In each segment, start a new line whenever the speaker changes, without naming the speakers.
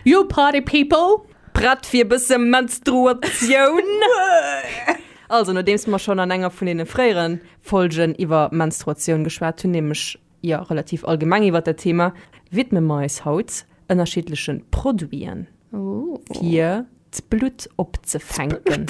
Yo Party People! Prett fir bësse
Menstruatioun? Also, nodeems mer schonn an enger vun deene fréieren Folgen iwwer Menstruatioun geschwat hunn, nämlech jo relativ allgemeng iwwer dat Thema, widme mer eis haut ënnerschiddlechen Produiten, fir d'Blutt opzefänken.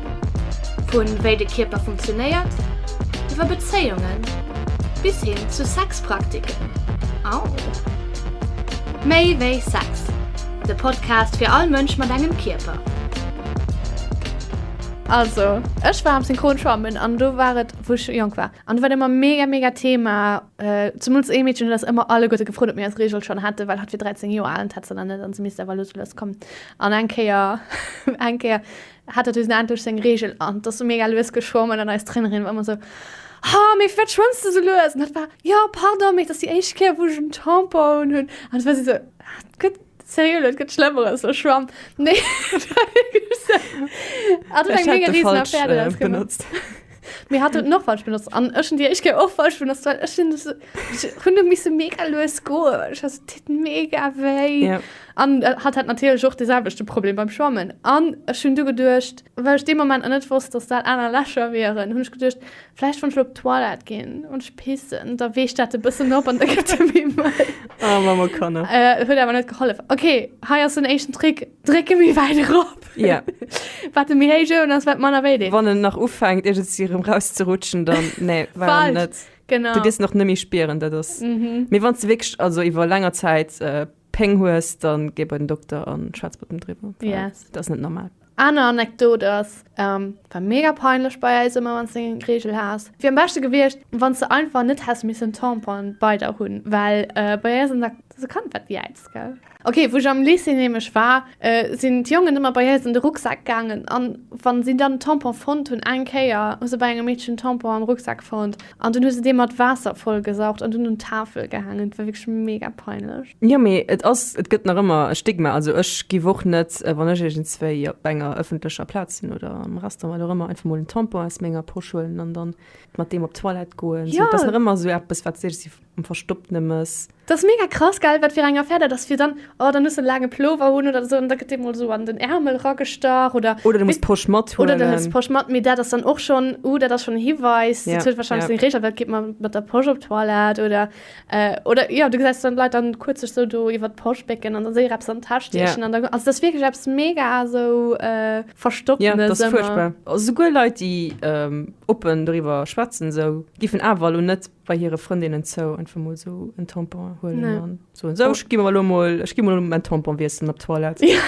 Vu
wéi de Kierper funktionéiert, iwwer Bezéiungen bis hin zu Sexpraktiken. Au! Méi wéi Sex, de Podcast fir all Mënsch mat engem Kierper.
Also ech war am Synchron schwammen an do war et wou ech jonk war an do war et ëmmer mega mega Thema, zemools ee Meedchen huet eis ëmmer alleguerte gefrot, ob mir eis Reegel schonn hätten, well hatt wier 13 Joer al an d'hätt se nach net an se misst awer elo zum Lues kommen. An eng Kéier, eng Kéier, hat dat usen endlech seng Regel an dass du mega lues geschwommen an eis Trainerin war immer so ha méi wat schwëmms du so lues an dat war ja pardon méi dass die éischt Kéier wo ech en Tampon hunn an war si so ah, gëtt serieux Leute gëtt schlemmeres so schwamm nee benutzt Mir hat den Nordwald benutzt an ich und die ich gehe auch falsch benutzt weil ich das Hunde müssen mega los gehen ich das tut mega weh ja. an äh, hat hat natürlich auch dieselbe Problem beim Schwammen an ich schon du gedurcht weil ich dem Moment nicht wusste dass da einer Lächer wären und ich gedurcht vielleicht von Schluck Toilette gehen und ich pissen da weh ich das ein bisschen ab und da gibt es mir mal oh, Mama kann
äh, wird aber nicht geholfen
okay hier ist ein echten Trick Drécke méi wäit erop. Ja.
Wat e méi héich
oen ass, wat manner wéi deet. Wann en nach ufänkt
iergendsi erëm rauszerutschen, dann nee, war Falsch. net. Genau. Du gëss nach nëmme
spieren,
dat ass. Mhm. Mee wann du wierklech also iwwer länger Zäit äh, Péng hues, dann geh bei den Dokter an schwätz mat dem driwwer. Well Yes. Dat ass net normal. Aner Anekdot
ass, ähm, war mega peinlech bei eis ëmmer, wann du eng Regel has. Wier am beschte gewiescht, wann du einfach net häss missen Tampon bei der hunn, well äh, bei eis an der se kann wat Jäiz, gell? Ok, wou ech am Lycée nämlech war, sinn d'Jongen ëmmer bei eis an de Rucksak gaangen an wa si dann en Tampon fonnt hunn, eng Kéier hu se bei engem Meedchen en Tampon am Rucksak fonnt an dunn hu se dee mat Waasser vollgesaugt an dunn un d'Tafel gehaangen. Et war wierklech mega peinlech. Jo, mee et ass,
et gëtt nach ëmmer e Stigma. Also ech giff och net, wann ech iergendswéi op enger ëffentlecher Plaz sinn oder am Restaurant, wat och ëmmer, einfach mol en Tampon aus menger Posch huelen an dann mat deem op d'Toilette goen. Esou, et ass nach ëmmer esou
eppes,
wat seet, um verstoppene Mëss. Dat ass mega krass,
gell, wat fir eng Affär dat ass, fir dann, oh, dann hues de e laange Plover un oder esou an da gëtt dee mol esou an den Äermel eragestach oder. Oder du muss d'Posch mathuelen. Oder
du hues d'Posch mat, mee dat
ass dann och schonn, uh, dat ass schonn e Hiwais, dat huet warscheinlech seng Reegel, wat geet mer mat der Posch op d'Toilette oder, oder jo, du gesäis dann d'Leit dann kuerz sech esou do iwwer d'Posch bécken an da séier eppes an d'Täsch stiechen an da, also dat ass wierklech eppes mega esou verstoppene ëmmer. Jo, dat ass fuerchtbar.
Esouguer Leit, déi oppen doriwwer schwätzen esou, giffen awer elo net bei hire Frëndinnen zou einfach mol sou en Tampon huelen nee. an so so ech gi lo mol ech gi lo mol en Tampon wiessen op Toilette ja.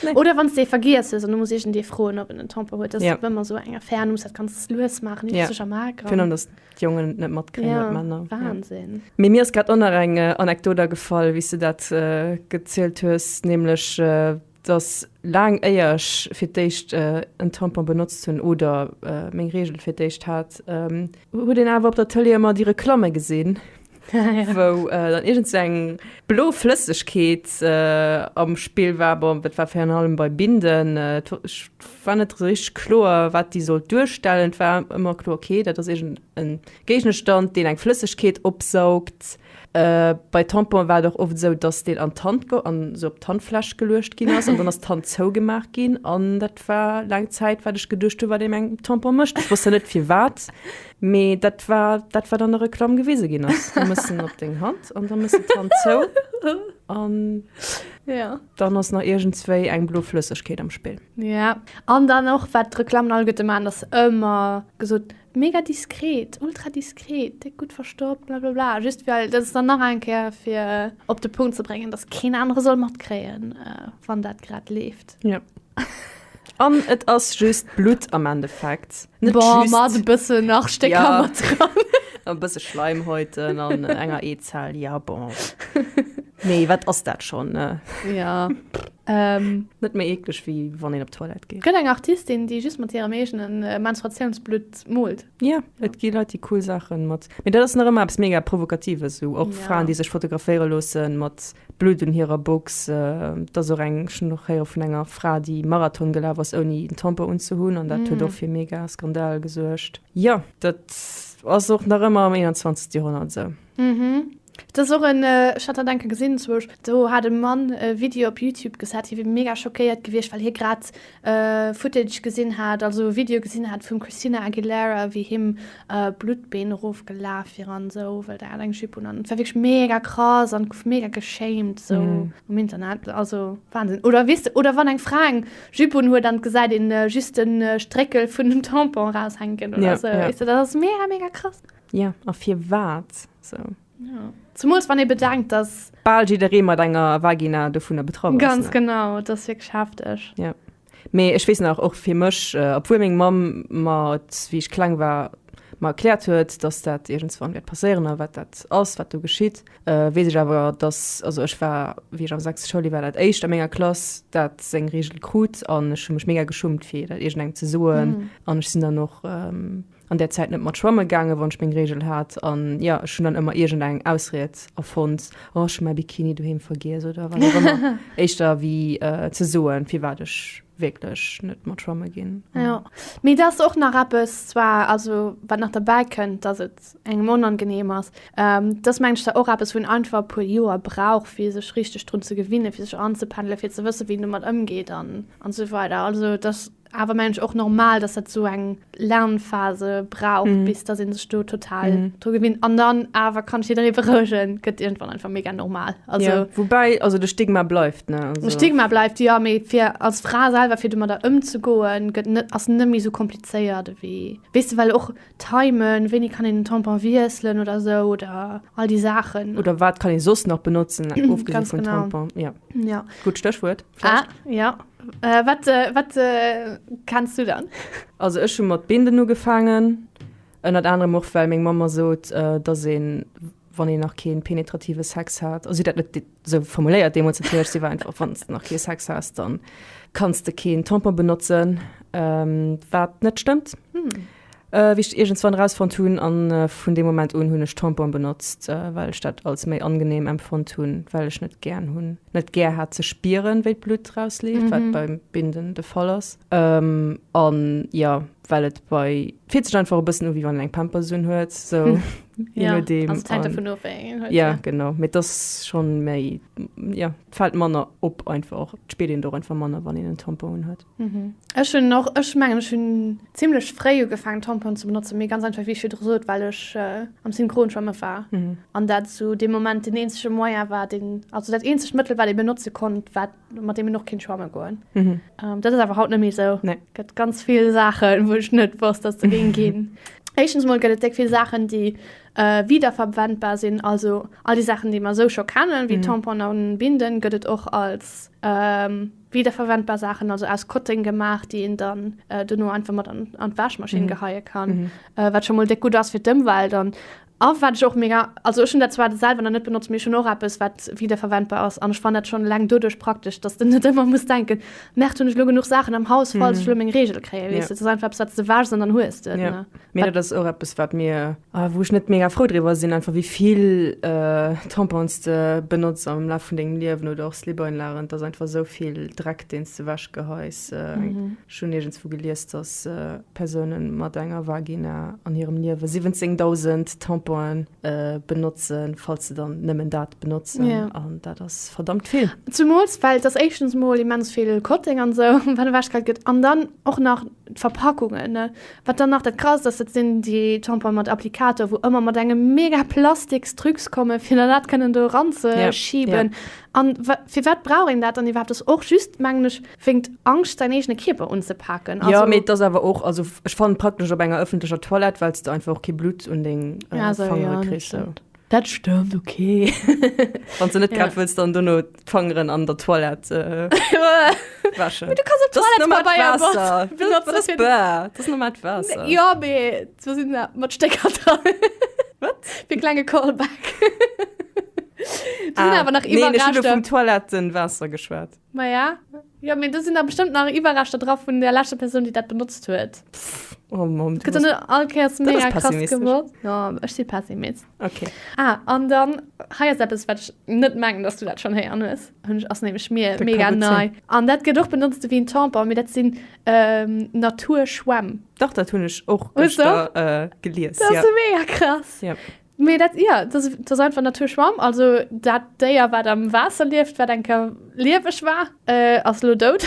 nee. oder wann
dee vergiess an du muss ich dee froen op en Tampon huet ja. wenn man so enger fern muss dat ganz lues machen ja. sech am Agra
dass die Jongen net mat ja. Männer Wahnsinn ja. mir mir
ist grad onnner
eng äh, Anekdote gefall wie du dat äh, gezielt hues nämlich äh, 't ass laang éier ech fir d'éischt en Tampon benotzt hunn oder meng Reegel fir d'éischt hat. Huet een awer op der Tëlee ëmmer déi Reklamme gesinn, wou dann iergend sou eng blo Flëssegkeet am Spill war. Bon, dat war virun allem bei Binden, ech war net esou richteg kloer, wat déi sollt duerstellen. Et war ëmmer kloer, ok, dat ass iergend e Géigenstand, deen eng Flëssegkeet opsaugt. Bei Tamponen war et och oft esou, dass deen an d'Hand go an esou op d'Handfläch geluecht ginn ass an dann ass d'Hand zougemaach ginn. An dat war laang Zäit, wat ech geduecht hu, wat ee mam Tampon mécht. Ech wosst dann net firwat, mee dat war dat, wat an der Reklamm gewise ginn ass. Du méchs en op deng Hand an da méchs de d'Hand zou an dann ass nach iergendswéi eng blo Flëssegkeet am Spill. Jo, an
dann och, wat d'Reklammen alleguerte maachen, dass se ëmmer gesot Mega diskret, ultra diskret, déck gutt verstoppt, blablabla. Just well, dat ass dann nach eng Kéier fir op de Punkt ze bréngen, datt keen anere soll matkréien, wann dat grad leeft. Jo.
An et ass just Blutt am Endeffekt. Net just. Bon, mat e
bëssen nach Stécker. Jo. Mat
dran. E bësse Schleimhäuten an
enger
Eezell, ja bon. Nee, wat ass dat schon? Ne? Ja.
ähm,
net méi ekleg wie wann een op Toilette geht. Gëtt eng Artistin,
déi
just
mat hirem eegenen äh, Menstruatiounsblutt molt. Ja, et ja. gi Leute
die cool Sachen mat. Mir dat ass nach ëmmer abs mega provokatives so och ja. Fraen, die sech fotograféiere losen mat Blut un hirer Box. Äh, dat so eng schon noch héier vun enger Fra, die Marathon gelaf ass ouni den Tamper unzehunn an dat huet mm. och fir mega Skandal gesuergt. Ja, dat ass och nach ëmmer am 21. Jahrhundert se. So. Mhm.
Dat ass och en, ech hat dat enke gesinn zwousch, do hat e Mann e Video op Youtube gesat, hie wier mega schockéiert gewiescht, well hie grad Footage gesinn hat, also e Video gesinn hat vum Christina Aguilera, wéi him Bluttbeen erofgelaf wier an esou, well där hat eng Jupe un an et war wierklech mega krass an et gouf mega geschämt esou um Internet. Also Wahnsinn. Oder weess de, oder wann eng Fra eng Jupe un huet an et gesäit een just de Stréckel vun dem Tampon eraushänken oder esou, weess de, dat ass mega, mega krass. Ja, a
firwat sou? Ja.
Zemools wann ee bedenkt, dass. Bal jidderee mat enger
Vagina dovunner betraff ass. Ganz genau, dat ass
wierklech hefteg. Ja. Mee
ech weess nach, och fir mech, obwuel meng Mamm mer et, wéi ech kleng war, mer erkläert huet, dass dat iergendswann wäert passéieren a wat dat ass, wat do geschitt, weess ech awer, dass, also ech war, wéi ech am sechste Schouljoer war, dat éischt a menger Klass, dat seng Reegel krut an ech hu mech mega geschummt, fir dat iergendengem ze soen an ech sinn dann och. an där Zäit net mat schwamme gaangen, wann ech meng Reegel hat, an jo, ech hunn dann ëmmer iergendeng Ausried erfonnt, oh, ech hu mäi Bikini doheem vergiess oder wat och ëmmer, éischter wéi ze soen, firwat ech wierklech net mat schwamme ginn. Jo, mee dat
ass och nach eppes, zwar, also wat nach derbäi kënnt, dass et engem onangeneem ass, dat ass, mengen ech, da och eppes, wou een einfach e puer Joer brauch, fir sech richteg drun ze gewinnen, fir sech anzependelen, fir ze wëssen, wéi een domat ëmgeet an esou weider, also dat. Awer mengen ech och normal, dass dat esou eng Lernphase brauch, bis dass ee sech do total dru gewinnt. An dann awer kann ech jidderee berouegen, gëtt iergendwann einfach mega normal. Also, woubäi also de
Stigma bleift, ne? De Stigma bleift, jo, mee
fir als Fra selwer fir domadder ëmzegoen, gëtt net, ass net méi esou komplizéiert ewéi, weess de, well och Timen, wéini kann een den Tampon wiesselen oder esou oder all déi Saachen. Oder wat kann ee soss
nach benotzen, ofgesi vun Tampon. Ganz genau.
Ja.
Gutt Stéchwuert, vläicht. Ah, jo.
Wat wat kenns du dann? Also ech hu mat
Binden ugefaangen, ënnert anerem och well meng Mamm mer sot, datt een wann een nach kee penetrative Sex hat, also si huet dat net esou formuléiert deemools natierlech, si war einfach, wann s de nach kee Sex has, da kanns de keen Tampon benotzen, wat net stëmmt. Wéi ech iergendswann erausfonnt hunn, a vun deem Moment un hunn ech Tampon benotzt, well ech dat als méi angenehm empfonnt hunn, well ech net gären hunn, net gär hat ze spieren, wéi d'Blutt erausleeft, wat beim Binden de Fall ass, an jo, well et bei, fillt sech einfach e bëssen u wéi wann een eng Pampers unhuet, sou, je nodeem, an,
jo, genau, mee et
ass schonn méi, jo, et fält manner op einfach och, et spiert een et och einfach manner, wann een en Tampon unhuet. Ech hunn och, ech
mengen ech hunn zimlech fréi ugefaangen Tampon ze benotzen, mee ganz einfach wéi ech virdru sot, well ech am Synchronschwammen war an dat esou dee Moment den eenzege Moyen war, deen, also dat eenzegt Mëttel wat ee benotze konnt, wat mat deem een och kinnt schwamme goen. Dat ass awer haut net méi esou, gëtt ganz vill Saachen, wou ech net wosst, dass se géing ginn. Éischtens mol gëtt et déck vill Saachen, déi wiederverwendbar sinn, also all déi Saachen, déi mer esou scho kennen, wéi Tamponen an Binden, gëtt et och als, Wiederverwendbar Saachen, also aus Kotteng gemaach, déi een dann dono einfach mat an d'Wäschmaschinn geheie kann, wat scho mol déck gutt ass fir d'Ëmwelt. An a wat ech och mega, also ech hunn dat zwar selwer nach net benotzt, mee ech hunn och eppes, wat wiederverwendbar ass an ech fannen dat schonn eleng doduerch praktesch, dass de net ëmmer muss denken, Mäert hunn ech elo genuch Saachen am Haus, falls ech elo meng Reegel kréie, weess de. Dat ass einfach eppes, wat s de wäschs an dann hues de et. Mee dat ass
och
eppes,
wat mir, wou ech net mega frou driwwer sinn, einfach wéi vill Tampons de benotz am Laf vun dengem Liewen oder och Slip-Einlagen. Et ass einfach esou vill Dreck, deen s de ewechgeheis. Ech hunn iergends wou gelies, dass Persoune mat enger Vagina an hirem Liewe 17.000 Tamponen benotzen, falls se dann nëmmen dat benotzen. An dat ass
verdammt
vill. Zemools, well et ass
éischtens mol immens vill Cotting an esou, wat ewechgeheit gëtt. An dann och nach d'Verpackungen, Wat dann nach dat Krasst ass, dat sinn déi Tamponen mat Applikator, wou ëmmer mat engem mega Plastiksdrücks kommen, fir dann dat kënnen do eranzeschiben. An firwat brauch een dat dann iwwerhaapt? Ass och just, mengen ech, wéingt d'Angscht, säin eegene Kierper unzepaken. Jo, mee et ass awer och, also
ech fannen et praktesch op enger ëffentlecher Toilette, well s de einfach och kee Blutt un deng Fangere kriss. Dat stëmmt, ok.
Wann s de
net grad wëlls dann dono d'Fangeren an der Toilette wäschen. Mee du kanns op
Toilettepabeier
benotzen. Dat ass normalt Waasser. Jo, mee
do sinn se mat Stécker dran. Wat? Fir e
klenge
Callback. Do sinn awer nach Iwwerreschter. Neen, ech hunn elo vum Toilettenwaasser
geschwat. Maja,
Jo, mee do sinn da bestëmmt nach Iwwerreschter dra vun der leschter Persoun, déi dat benotzt huet. Pff, oh Mann.
Gëtt dann net all Kéiers Dat
ass mega krass pessimistesch. gewor. Jo,
ech si
Pessimist. Okay. Ah,
an dann,
hei ass eppes, wat ech net mengen, dass du dat schonn héieren hues. Hunn ech, ass nämlech mir Dat mega ka gutt nei. An
dat
gëtt
och
benotzt ewéi en Tampon, mee dat sinn ähm, Naturschwämm. Dach, dat hunn
ech och Hues du? gëschter äh,
gelies. Dat
ass ja mega
krass. Ja. Mee dat,
jo, dat ass,
dat ass einfach Naturschwamm. Also dat Déier, wat am Waasser lieft, wat eng Kéier lieweg war, ass elo dout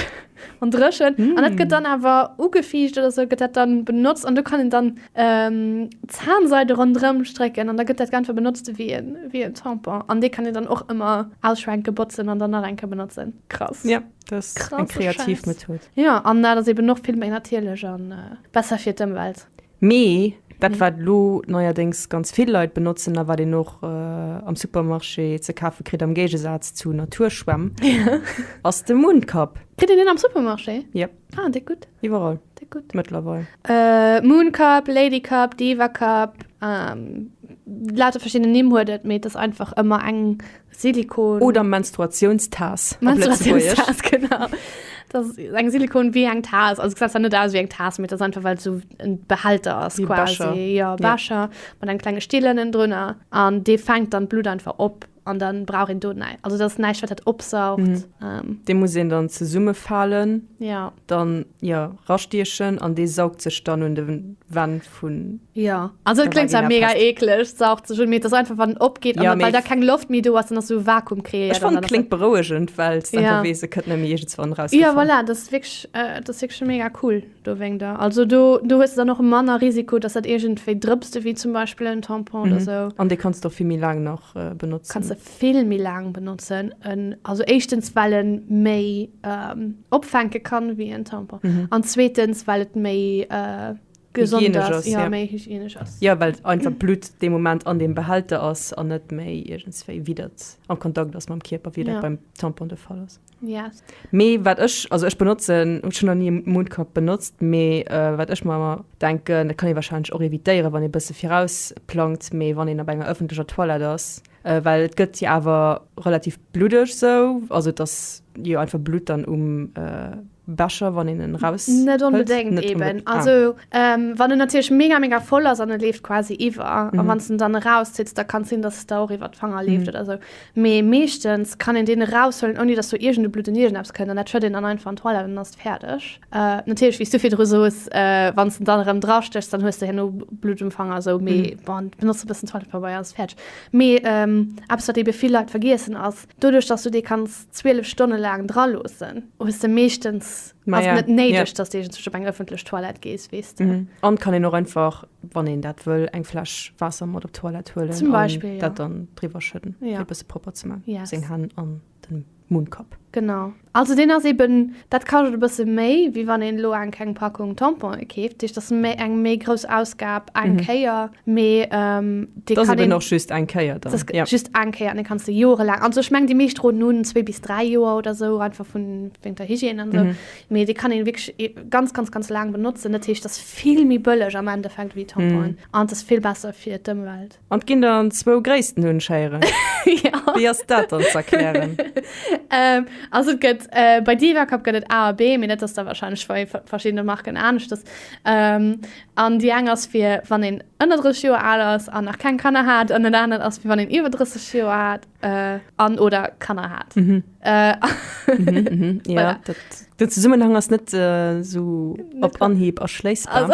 an dréchen. An dat gëtt dann awer ugefiicht oder sou, gëtt dat dann benotzt. An do kann een dann Zahnseide ronderëm strécken an da gëtt dat einfach benotzt ewéi e, ewéi e Tampon. An dee kann een dann och ëmmer ausschwenken, botzen an dann nach eng Kéier benotzen. Krass. Jo, dat ass
eng kreativ Method.
Jo,
an dat ass
eben och vill méi natierlech a besser fir d'Ëmwelt. Mee dat
wat elo neierdéngs ganz vill Leit benotzen a wat een och am Supermarché ze kafe kritt, am Géigesaz zu Naturschwämm, ass de Mooncup. Kritt een deen am Supermarché?
Yep. Ah, deet gutt. Iwwerall. Deet gutt.
Mëttlerweil. Mooncup,
Ladycup, Divacup, lauter verschidden Nimm huet et, mee et ass einfach ëmmer eng Silikon. Oder
Menstruationstaas. Menstruationstaas,
genau. Das ist ein Silikon wie ein Taas. Also, es sieht nicht aus wie ein Taas, mit das einfach, weil es so ein Behälter ist, wie quasi. Becher. Ja, Becher. Ja. Mit einem kleinen Stiel innen drin. Und die fängt dann Blut einfach ab. Und dann braucht ihn dort nicht. Also, das ist nicht, was das absaugt. Mhm. Ähm. Den muss
ihn dann zusammenfallen. Ja. Dann,
ja,
rastieren. Und die saugt sich dann und den Wand. vun. Jo also et kléngt
zwar mega Pest. eekleg saugt sech
un mee
et ass einfach wann en opgeet an well da keng Loft méi do
ass
dann
ass
esou Vakuum kreéiert. Ech fannen et kléngt berouegend
well
s
de einfach weess et kënnt net méi iergends wann eraus. Jo voilà dat ass wierklech
dat ass wierklech mega cool do wéinst der. Also do do hues de dann och manner Risiko dass dat iergendwéi drëpst ewéi zum Beispill en Tampon oder esou. An dee kanns de och vill méi laang
nach benotzen. Kanns de vill méi
laang benotzen en also éischtens well e méi opfänke kann ewéi en Tampon an zweetens well et méi gesond ass, ja, méi hygienesch
ass. Ja,
well einfach d'Blutt
dee Moment an deem Behälter ass an net méi iergendswéi widert am Kontakt ass mam Kierper, wéi dat ja. beim Tampon de Fall ass. Ja. Yes. Mee
wat ech,
also ech benotzen, hu schon an nie Mundkap benutzt, mee äh, wat ech mal denken, dat kann e wahrscheinlich och evitéieren, wann e bësse virausplangt, mee wann en op enger öffentlicher Toilette ass, Well et gëtt jo awer relativ bluddeg esou, also et ass jo einfach Blutt dann um Becher, wann een en raus. Net onbedéngt
eeben, also wann en natierlech mega mega voll ass an e leeft quasi iwwer a wann s de en dann erauszitt, da kann et sinn, datt et der och iwwer d'Fanger leeft oder esou. Mee meeschtens kann een deen eraushuelen, ouni datt do iergendeblutt un iergendeppes kënnt an dat schëtt een dann einfach an d'Toilette an dann ass et fäerdeg. Natierlech, wéi s du virdru soos, wann s de dann erëm drastéchs, dann hues de herno Blutt um Fanger esou, mee bon, benotz e bëssen Toilettepabeier ass fäerdeg. Mee eppes, wat eebe vill Leit vergiessen, ass, Doduerch, datt s du dee kanns 12 Stonne laang draloossen, hues de meeschtens, ass et net néideg,
datt s de
iergendwéi op eng
ëffentlech
Toilette gees, weess de. An et kann een och einfach,
wann een dat wëll, eng Fläsch Waasser mat op d'Toilette huelen an dat dann
driwwer schëdden,
fir e bësse propper ze man, seng Hänn an
den
Munnkapp. Genau. Also
deen ass eben, dat kascht e bësse méi, wéi wann een elo eng keng Packung Tamponen keeft. Dat heescht, dat ass méi eng méi grouss Ausgab eng Kéier, mee dee kann een. Dat ass eben och just eng
Kéier dann. Dat ass just eng Kéier
an
dee
kanns de jorelaang, also ech mengen, déi meescht droen en un, zwee bis dräi Joer oder esou, einfach vun wéinst der Hygiène an esou. Mee dee kann een wierklech ganz, ganz, ganz laang benotzen. Dat heescht, dat ass vill méi bëlleg am Endeffekt wéi Tamponen an et ass vill besser fir d'Ëmwelt. An et ginn dann zwou
gréissten Hunschéieren. Ja. Wéi ass
dat dann
z'erklären? Ähm,
also et gëtt, äh, bei Divacup gëtt et A a B, mee dat ass da wahrscheinlech bei verschiddene Marken aneschters. Ähm, an déi eng ass fir wann een ënner 30 Joer al ass an nach keng Kanner hat an dat anert ass fir wann een iwwer 30 Joer hat, äh, an, oder Kanner hat. Mhm. Äh, Mhm, ja, Voilà. dat, den
Zesummenhang ass net äh, sou op Anhieb erschléissbar. also,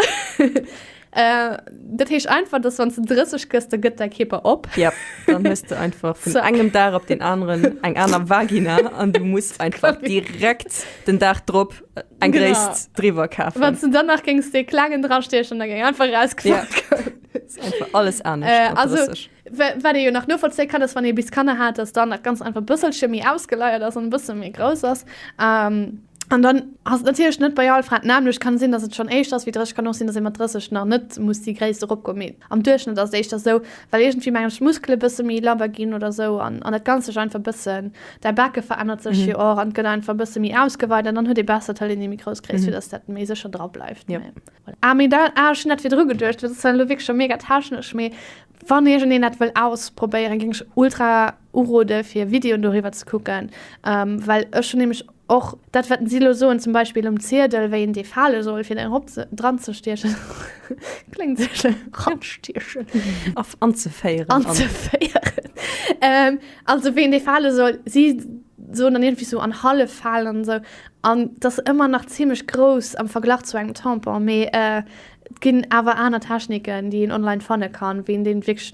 Äh,
dat heescht einfach, dass wann du 30 gëss, da gëtt däi Kierper op. Ja, dann hues du
einfach vun engem Dag op den aneren eng aner Vagina an du muss einfach direkt den Dag drop eng genau. Gréisst driwwer
kafen.
Wann du dann nach géings dee
klengen drastechen, da géing einfach rausgefall. Ja.
einfach alles anescht. Äh, also,
wat ee jo nach novollzéi kann, ass wann ee bis Kanner hat, dass dann nach ganz einfach bësselche méi ausgeleiert ass an bësse méi grouss ass. Ähm, An dann ass et natierlech net bei all Fra d'nämmlecht. Kann sinn, dass et schonn éischter ass wéi 30, kann och sinn, dass ee mat 30 nach net muss déi Gréisst eropgoen. Mee am Duerchschnëtt ass et éischter esou, well iergendwéi, mengen ech, d'Muskele bësse méi labber ginn oder esou an dat Ganzt sech einfach bëssen, däi Bake verännert sech jo och an et gëtt einfach bësse méi ausgeweit an dann huet ee besser d'Taille, déi méi grouss Gréisst, fir dass dat méi sécher dra bleift. Mee voilà. Ah, mee
da,
ah, ech hunn dat virdru geduecht, well dat ass zwar elo wierklech scho mega technesch, mee wann iergendeen dat wëll ausprobéieren, géing ech ultra Urode fir Videoen doriwwer ze kucken, well ech hunn nämlech och dat wat si elo soen, zum Beispill um Ziedel wéi een dee fale soll fir erop dran ze stiechen, kléngt sou schéin, dran stiechen,
anzeféieren, anzeféieren,
also wéi een dee fale soll, si soen dann iergendwéi sou an hallef falen an esou, an et ass ëmmer nach zimlech grouss am Verglach zu engem Tampon, mee et ginn awer aner Techniken déi een online fanne kann, wéi een dee wierklech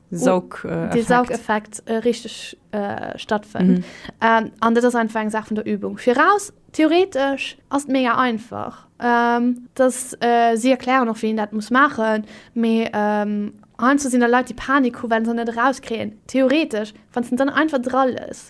Saugeffekt. De Saugeffekt äh, richteg äh, stattfënnt. Mhm. Ähm, an dat ass einfach eng Saach vun der Übung. Viraus theoretesch ass et mega einfach. Ähm, dass äh, si erklären och wéi een dat muss maachen, mee ähm, Heiansdo sinn der Leit déi Panik hu well se net erauskréien. Theoretesch, wann s de dann einfach dra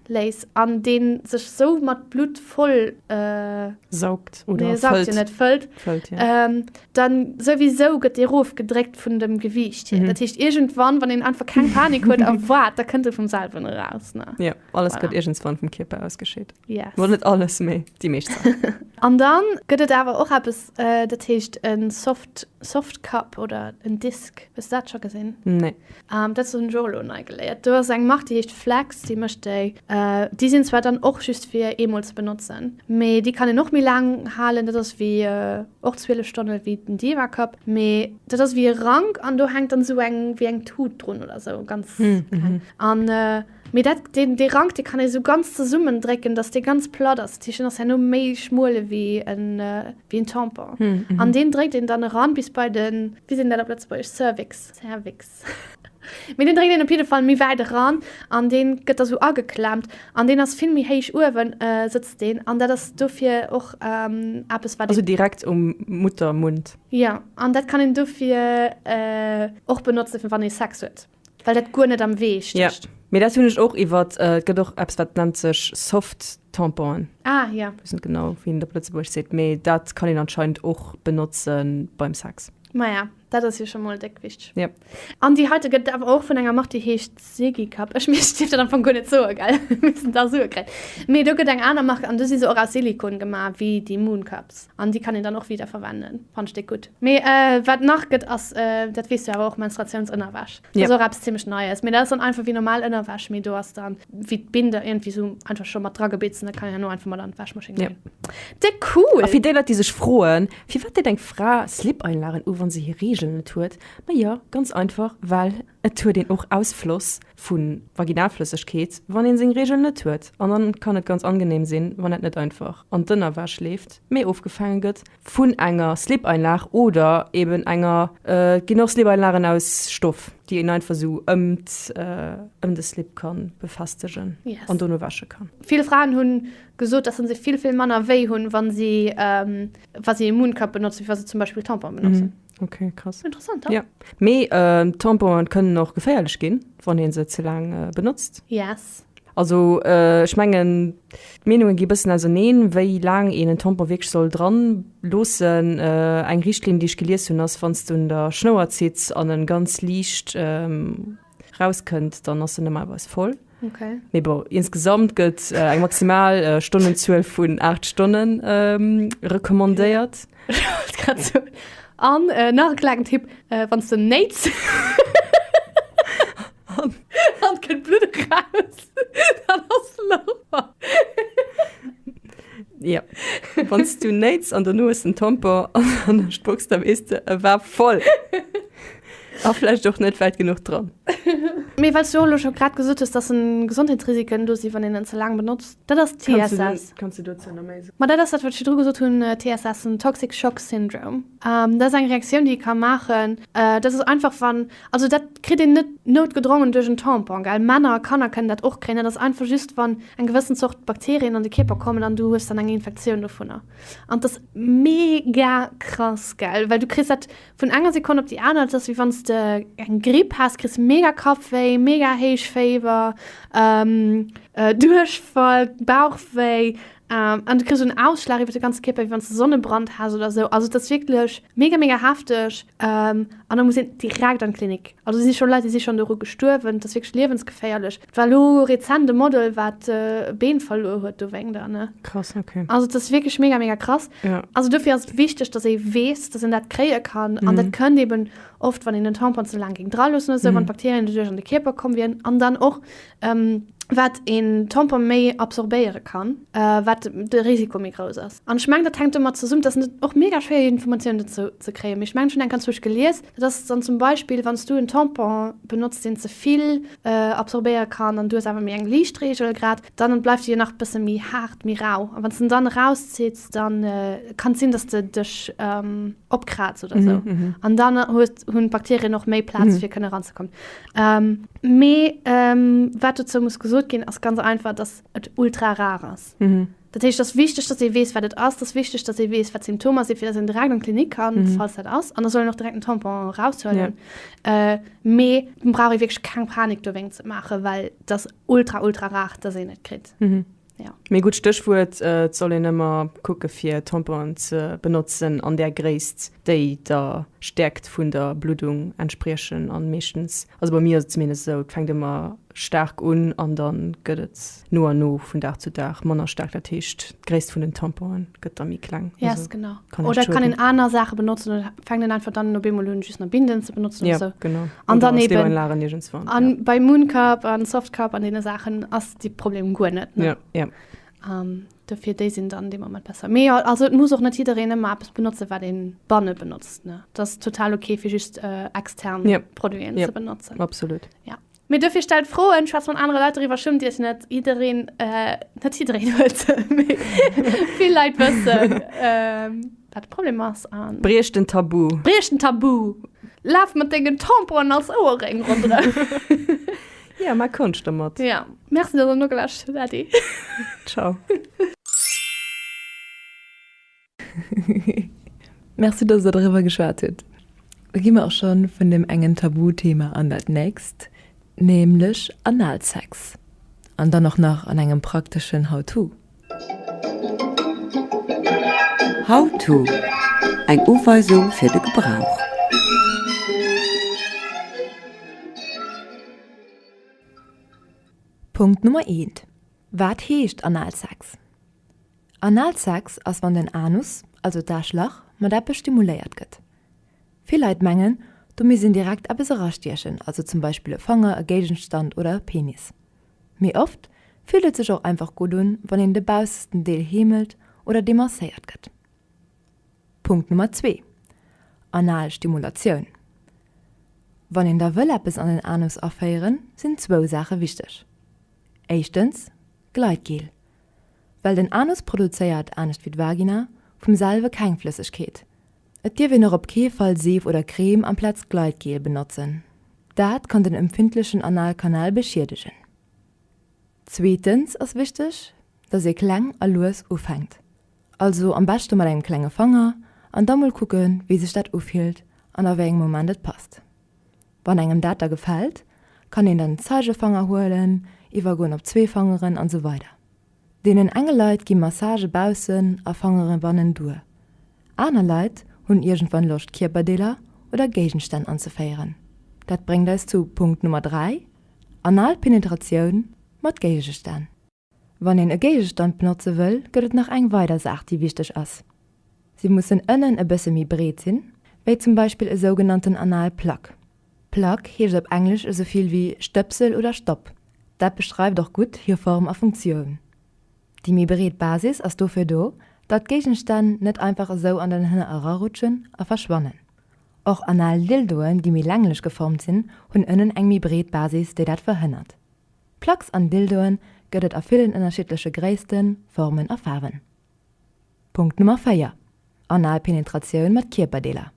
léis an dee sech sou mat Blutt voll äh, saugt
oder nee, saugt fëllt. Net, fëllt,
fëllt ja. ähm,
dann
souwisou gëtt dee rof gedréckt vun dem Gewiicht hier. Dat heescht, iergendwann, wann een einfach keng Panik huet a waart, da kënnt e vum selwen eraus, ne? Jo, alles Voilà. gëtt
iergendswann vum Kierper ausgescheet. Yes. Mol net alles,
mee
déi meescht Saachen. An dann
gëtt et awer och eppes, äh, dat heescht en Soft, Soft Cup oder en Disk. Hues de dat scho gesinn? Nee. Um, dat
hunn ech och
elo nei geléiert. Do ass eng Mark, déi heescht Flex, déi mécht déi. Uh, déi sinn zwar dann och just fir eemol ze benotzen, mee déi kann een och méi laang halen. Dat ass wéi, uh, och 12 Stonne wéi den Diva Cup, mee dat ass wéi e Rank an do hänkt dann esou eng, wéi eng Tut drun oder esou, ganz kleng. An, uh. Mee dat, deen, dee Rank, dee kann ee sou ganz zesummen drécken, dass dee ganz platt ass. Dat heescht, deen ass herno méi schmuel ewéi en, ewéi en Tampon. An deen dréckt een dann eran bis bei de, wéi seet een dat op Lëtzebuergesch, Cervix, Zervix? Mee deen dréckt een op jidde Fall méi wäit eran an deen gëtt da sou ageklemmt. An deen ass vill méi héich uewen, sëtzt deen. An dat ass dofir och eppes, wat een. Also direkt um
Muttermund? Jo. An dat
kann een dofir och benotzen, fir wann ee Sex huet. Well dat guer net am Wee stécht. Ja, mee dat hunn ech
och iwwert, et gëtt och eppes wat nennt sech Soft Tamponen. Ah ja. Weess
net genau wéi een et op
Lëtzebuerg seet, mee dat kann een anscheinend och benotze beim Sex. Maja, dat ass jo
scho mol déck wichteg. Ja. An déi
heite gëtt
awer och vun enger Mark déi heescht Silikap. Ech meech, ech dierf dat am Fong guer net soe gell, wéinst den da Sue kréien. Mee do gëtt eng aner Mark an do si se och aus Silikon gemaach wéi déi Mooncups an déi kann een dann och wiederverwenden. Fann ech déck gutt. Mee wat nach gëtt ass, dat weess du awer och, Menstruatiounsënnerwäsch. Dat ass och eppes zimmlech Neies. Mee dat ass dann einfach wéi normal Ënnerwäsch, mee do ass dann wéi d'Binder iergendwéi esou einfach scho mat dragebeet sinn, dat kann een herno einfach mat an d'Wäschmaschinn dinn. Dee cool! A fir déi Leit, déi sech
froen, firwat deet eng Fra Slip-Einlagen u wann se hir Reegelen net huet, ma jo, ganz einfach, well et huet een och Ausfloss vu Vaginalflëssegkeet, wann ee seng Reegelen net huet. An dann kann et ganz angenehm sinn, wann dat net einfach an d'Ënnerwäsch leeft, mee ofgefaange gëtt. Vun enger Slip-Einlag oder eben enger, et ginn och Slip-Einlagen aus Stoff, déi een einfach esou ëm de Slip ka befestegen an dono wäsche kann. Vill Fraen hu
gesot, dass se vill, vill manner wéi hunn, wa si e Mooncup benotzen, wéi wa se zum Beispill Tampon benotzen. Okay, krass.
Interessant, ja.
Mee
äh, Tamponen kënnen och geféierlech ginn, wann een se ze laang äh, benotzt. Yes.
Also äh,
ech mengen d'Meenungen gi bëssen auserneen, wéi laang een en Tampon wierklech soll dran loossen. Äh, eng Richtlinn, déi ech gelies hunn, ass wann s du un der Schnouer zitts an en ganz liicht ähm, raus kënnt, dann ass se normalerweis voll. Okay. Mee bon,
insgesamt
gëtt äh, eng maximal äh, Stonnenzuel vun 8 Stonnen ähm, recommandéiert. Wollt
grad so. An äh, nach e kleinen Tipp, äh, wann du nähts, dann kommt Blut raus, dann hast du Lauer.
Ja. Wann du nähts an der Nues den Tampon an der Spucks, dann weißt du, er war voll. A vläicht och net wäit genuch dran. Mee
well s du jo elo scho grad gesot hues, datt Gesondheetsrisiken do sinn, wann een en ze laang benotzt, dat ass TSS. Kanns du dozou nach méi
soen? Ma dat ass dat, wat ech virdru gesot
hunn, TSS, den Toxic Shock Syndrome. Dat ass eng Reaktioun, déi ee ka maachen. Dat ass einfach, wann, also dat kritt een net noutgedrongen duerch en Tampon, gell, Männer a Kanner kënnen dat och kréien. Dat ass einfach just, wann eng gewëssen Zort Bakterien an de Kierper kommen an du hues dann eng Infektioun dovunner. An 't ass mega krass, gell, well du kriss dat Vun enger Sekonn op déi aner, et ass wéi wann s de eng Gripp häss, kriss mega Kappwéi, mega héich Féiwer, Duerchfall, Bauchwéi an du kriss en Ausschlag iwwer de ganze Kierper, wéi wann s de Sonnebrand häss oder esou. Also et ass wierklech mega, mega hefteg an da muss een direkt an d'Klinik. Also do si scho Leit, déi si schonn doru gestuerwen. Et ass wierklech liewensgeféierlech. War lo rezent e Model wat e Been verluer huet dowéngt an ne. Krass ok. Also dass
wierklech mega mega
krass. Ja. Also dofir ass et
wichteg
dass ee weess dass een dat kréie kann an dat kënnt eben oft wann een den Tampon ze laang géing dra loossen oder sou wann d'Bakterien doduerch an de Kierper komm wieren an dann och wat een Tampon méi absorbéiere kann wat de Risiko méi grouss ass an ech mengen dat hänkt domat zesummen. Et ass och mega schwéier Informatiounen dozou ze kréien mee ech mengen ech hunn eng ganz Wuecht gelies Dat ass dann zum Beispill, wann s du en Tampon benotzt, deen ze vill absorbéiere kann an du hues awer méi eng liicht Reegel, grad dann bleift e jo nach e bësse méi haart, méi rau an wann s de en dann erauszitt, da kann et sinn, datt s de dech opkrazt oder esou an dann hunn d'Bakterien och méi Plaz fir kënne ranzekommen. Mee wat dozou muss gesot ginn, ass ganz einfach, datt et ultra rar ass. Dat heescht, et ass wichteg, datt ee weess, wat et ass. Et ass wichteg, datt ee weess, wat d'Symptomer sinn, fir datt een direkt an d'Klinik kann, falls dat ass. An da soll een och direkt den Tampon eraushuelen. Mee et brauch ee wierklech keng Panik dowéingt ze maachen, well et ass ultra, ultra rar, datt een et kritt. Mee gutt Stéchwuert,
et soll een ëmmer kucke fir Tamponen ze benotzen an där Gréisst, déi der Stäerkt vun der Bluddung entspriechen. A meeschtens Also bei mir ass et zumindest esou, et fänkt ëmmer staark un an da gëtt et no a no vun Dag zu Dag manner staark, dat heescht, d'Gréisst vun den Tamponen gëtt da méi kleng. Yes, genau. Kann
oder
kann een
aner Saache benotzen oder fänkt een einfach dann op eemol un just nach Binden ze benotzen oder sou. Ja, genau. An dann
eben.
Oder
Stereoanlagen
iergendswann. An ja.
bei Mooncup
an Softcup an deene Saachen ass de Problem guer net. Ne? Ja, ja. Um,
Dofir
déi sinn dann dee Moment besser. Mee jo, also et muss och net jiddereen ëmmer eppes benotzen, wat ee banne benotzt. Ne, et ass total ok, fir just extern Produiten ze benotzen. Jep, absolut. Ja.
Mee dofir
stellt Froen, schwätzt mat anere Leit doriwwer, schummt Iech net. Jiddereen, net jiddereen huet se, mee vill Leit wëssen, wat de Problem ass a. Briecht den Tabu.
Briecht den Tabu!
Laf mat dengen Tamponen als Ouerréng ronderëm.
Ja, mach Konscht dermat. Ja, merci, dass der
nogeluerscht hutt, Ady. Ciao.
Merci, dass der doriwwer geschwat hutt. Da gi mer och scho vun deem engen Tabuthema an dat nächst, nämlech Analsex. An dann och nach an engem prakteschen How-to.
How-to, Eng Uweisung fir de Gebrauch.
Punkt Nummer 1, Wat heescht Analsex? Analsex ass wann den Anus, also d'Aschlach, mat eppes stimuléiert gëtt. Vill Leit mengen domi sinn direkt eppes erastiechen, also zum Beispill e Fanger, e Géigenstand oder e Penis. Mee oft fillt et sech och einfach gutt un, wann een de baussesten Deel heemelt oder demasséiert gëtt. Punkt Nummer zwee, Anal Stimulatioun. Wann een da wëll eppes an den Anus aféieren, sinn zwou Saache wichteg. Éischtens, Gleitgel. Well den Anus produzéiert, anescht wéi d'Vagina, vum selwe keng Flëssegkeet, Et dierf een och op kee Fall Seef oder Crème amplaz Gleitgel benotzen, dat kann den empfindlechen Analkanal beschiedegen. Zweetens ass wichteg, dass ee kleng a lues ufänkt, also am beschte mat engem klenge Fanger an da mol kucke wéi sech dat ufillt an a wéi engem Moment et passt. Wann engem dat da gefält, kann een dann Zeigefanger huelen, iwwergoen op zwee Fangeren an esou weider. Deenen enge Leit gi Massage baussen a fangere bannen duer. Aner Leit hunn iergendwann Loscht Kierperdeeler oder Géigenstänn anzeféieren. Dat bréngt eis zu Punkt Nummer 3, anal Penetratioun mat Géigestänn. Wann een e Géigestand benotze wëll, gëtt et nach eng weider Saach déi wichteg ass. Si mussen ënnen e bësse méi breet sinn, wéi zum Beispill e sougenannten anal Plug. Plug heescht op Englesch esou vill wéi Stëpsel oder Stapp. Dat beschreift och gutt hir Form a Funktioun. Déi méi breet Basis ass dofir do, datt Géigenstänn net einfach esou an den Hënner erarutschen a verschwannen. Och anal Dildoen, déi méi länglech geformt sinn, hunn ënnen eng méi breet Basis, déi dat verhënnert. Plugs an Dildoe gëtt et a villen ënnerschiddleche Gréissten, Formen a Faarwen. Punkt Nummer 4, Anal Penetratioun mat Kierperdeeler.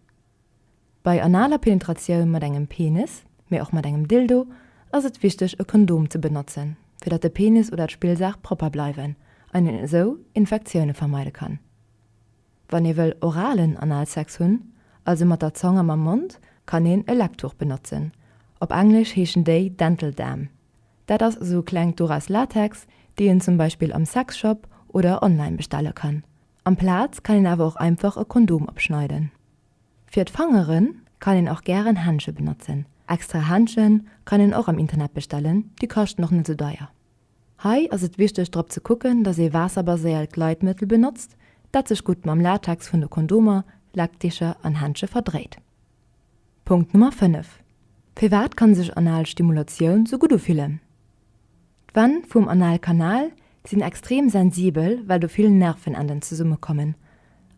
Bei analer Penetratioun mat engem Penis, mee och mat engem Dildo, ass et wichteg e Kondom ze benotzen, fir datt de Penis oder d'Spillsaach propper bleiwen an een esou Infektioune vermeide kann. Wann ee wëll oralen Analsex hunn, also mat der Zong a mam Mond, kann een e Lecktuch benotzen, op Englesch heeschen déi Dental Dam. Dat ass esou kleng Dore aus Latex, déi een zum Beispill am Sexshop oder online bestelle kann. Amplaz kann een awer och einfach e Kondom opschneiden. Fir d'Fangeren kann een och gären Händsche benotzen. Extra Händsche kann een och am Internet bestellen, déi kaschten och net sou deier. Hei ass et wichteg drop ze kucken dass ee waasserbaséiert Gleitmëttel benotzt dat sech gutt mam Latex vun de Kondomer, Lackdicher an Händsche verdréit. Punkt Nummer 5, Firwat kann sech anal Stimulatioun sou gutt ufillen? D'Wänn vum Analkanal sinn extrem sensibel well do vill Nervenenden zesumme kommen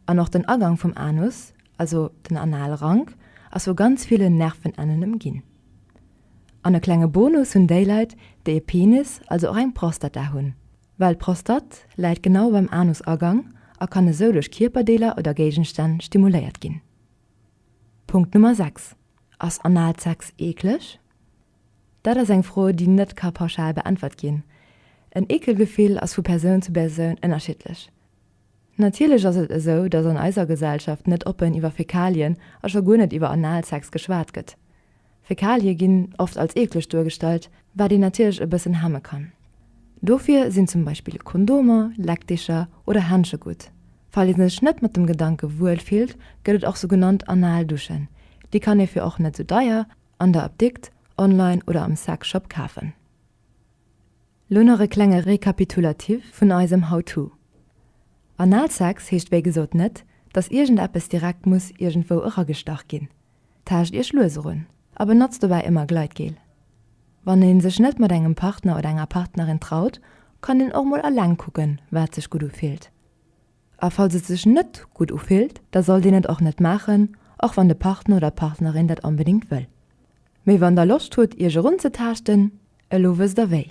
an och den Agang vum Anus, also den Analrank, ass vu ganz villen Nervenenden ëmginn. An e klenge Bonus hunn déi Leit déi e Penis, also och eng Prostata hunn, well d'Prostat läit genau beim Anusagang a kann esou duerch Kierperdeeler oder Géigenstänn stimuléiert ginn. Punkt Nummer 6, Ass Analsex eekleg? Dat ass eng Fro, déi net ka pauschal beäntwert ginn. En Eekelgefill ass vu Persoun zu Persoun ënnerschiddlech. Natierlech ass et esou, datt an eiser Gesellschaft net oppen iwwer Fäkalien a scho guer net iwwer Analsex geschwat gëtt. Fäkalie ginn oft als eekleg duergestallt, wat een natierlech e bëssen hemme kann. Dofir sinn zum Beispill Kondomer, Leckdecher oder Händsche gutt. Falls ee sech net mat dem Gedanke wuel fillt, gëtt et och sougenannt anal Duschen. Déi kann ee fir och net sou deier an der Apdikt, online oder am Sex Shop kafen. Lo nach e klenge Rekapitulatif vun eisem How-To. Analsex heescht wéi gesot net, dass iergendeppes direkt muss iergendwou eragestach ginn. Taascht Iech lues erun a benotzt dobäi ëmmer Gleitgel. Wann ee sech net mat engem Partner oder enger Partnerin traut, kann een och mol alleng kucken, wat sech gutt ufillt. A falls et sech net gutt ufillt, da sollt een et och net maachen, och wann de Partner oder d'Partnerin dat onbedéngt wëll. Mee wann der Loscht hutt, Iech erunzetaaschten, elo wësst der wéi.